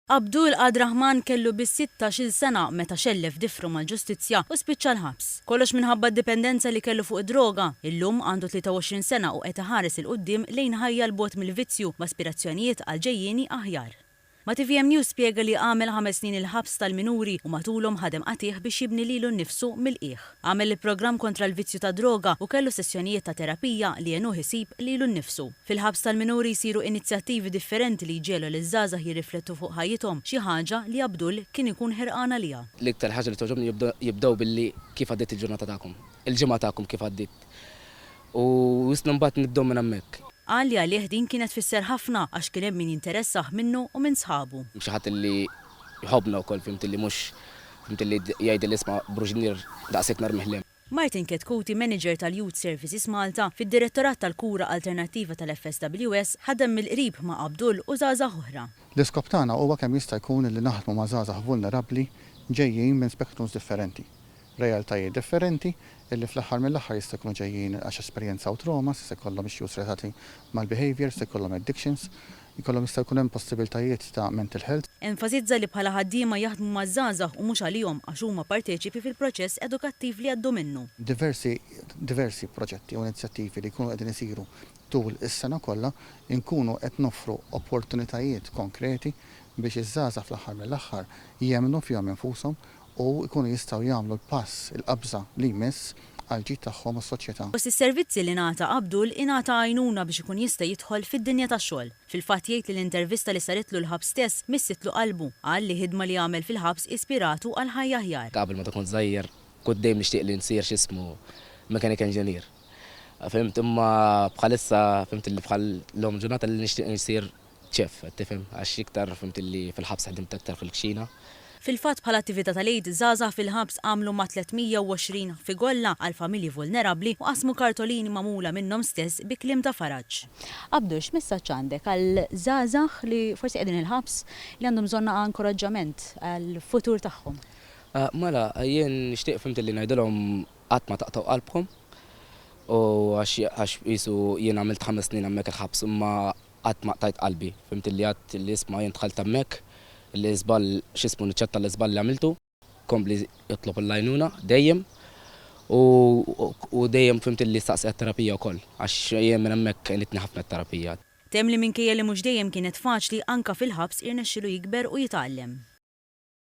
Abdul Ad Rahman kellu biss sittax-il sena meta xellef difru mal-ġustizzja u spiċċa l-ħabs. Kollox minħabba d-dipendenza li kellu fuq id-droga. Illum għandu 23 sena u qed iħares 'il quddiem lejn ħajja 'l bogħod mill-vizzju b'aspirazzjonijiet għal ġejjieni aħjar. Ma' tvm News spjega li għamel ħames snin il-ħabs tal-minuri u matulhom ħadem qatigħ biex jibni lilu nnifsu mill-qiegħ. Għamel il-programm kontra l-vizzju tad-droga u kellu sessjonijiet ta' terapija li għenuh isib lilu nnifsu. Fil-ħabs tal-minuri jsiru inizjattivi differenti li jġegħlu liż-żgħażagħ jirriflettu fuq ħajjithom, xi ħaġa li Abdul kien ikun ħerqan għaliha. L-iktar ħaġa li togħġobni jibdew billi Kif għaddiet il-ġurnata tagħkom? Il-ġimgħa tagħkom kif għaddiet? U wisna mbagħad nibdew minn hemmhekk. Qal li għalih din kienet tfisser ħafna għax kien hemm min jinteressah minnu u minn sħabu. Xi ħadd li jħobbna wkoll fhimti li mhux fhimti li jgħidilli isma' Bruġnier daqshekk narmih l-hemm. Martin Chetcuti, Manager tal-Youth Services Malta, fid-Direttorat tal-Kura Alternattiva tal-FSWS, ħadem mill-qrib ma' Abdul u żgħażagħ oħra. L-iskop tagħna huwa kemm jista' jkun li naħdmu ma' żgħażagħ vulnerabbli ġejjin minn spectrums differenti. realtajiet differenti illi fl-aħħar mill-aħħar jista' jkunu ġejjin għax esperjenzaw traumas, jista' jkollhom issues relatati mal-behaviour, jista' jkollhom addictions, jkollhom jista' jkun hemm possibiltajiet ta' mental health. Enfasizza li bħala ħaddiema jaħdmu maż-żgħażagħ u mhux għalihom għax huma parteċipi fil-proċess edukattiv li jgħaddu minnu. Diversi diversi proġetti u inizjattivi li jkunu qegħdin isiru tul is-sena kollha nkunu qed noffru opportunitajiet konkreti biex iż-żgħażagħ fl-aħħar mill-aħħar jemmnu fihom infushom, u jkunu jistgħu jagħmlu l-pass, il-qabża, li jmiss għall-ġid tagħhom u s-soċjetà. Fost is-servizzi li ngħata Abdul ingħata għajnuna biex ikun jista' jidħol fid-dinja tax-xogħol. Fil-fatt jgħid li l-intervista li saritlu l-ħabs stess missitlu qalbu. Qal li ħidma li għamel fil-ħabs ispiratu għal ħajja aħjar. Qabel meta kont żgħir kont dejjem nixtieq li nsir x'ismu mechanic engineer. Fhimt imma bħalissa fhimt li bħal llum il-ġurnata li nixtieq nsir Chef, qed tifhem, għax iktar fhimt li fil-ħabs ħdimt aktar fil-kċina. Fil-fatt bħala attività tal-Għid, żgħażagħ fil-ħabs għamlu ma' 320 figolla għal familji vulnerabbli u qasmu kartolini magħmula minnhom stess bi kliem ta' faraġ. Abdu, x'messaġġ għandek għal żgħażagħ li forsi qegħdin il-ħabs li għandhom bżonn naqa' inkoraġġament għall-futur tagħhom? Mela, jien nixtieq fhimt li ngħidilhom qatt ma taqtgħu qalbkom u għax qisu jien għamilt ħames snin hemmhekk il-ħabs imma Qatt ma qtajt qalbi. Fhimtilli għadt li isma' jien dħalt hemmhekk, li żball x'ismu niċċetta l-iżball li għamiltu. Kompli itlob l-għajnuna dejjem u u dejjem fhimtilli staqsi għat-terapija wkoll għax jien minn hemmhekk għenitni ħafna t-terapija. Temm li minkejja li mhux dejjem kienet faċli anke fil-ħabs irnexxilu jikber u jitgħallem.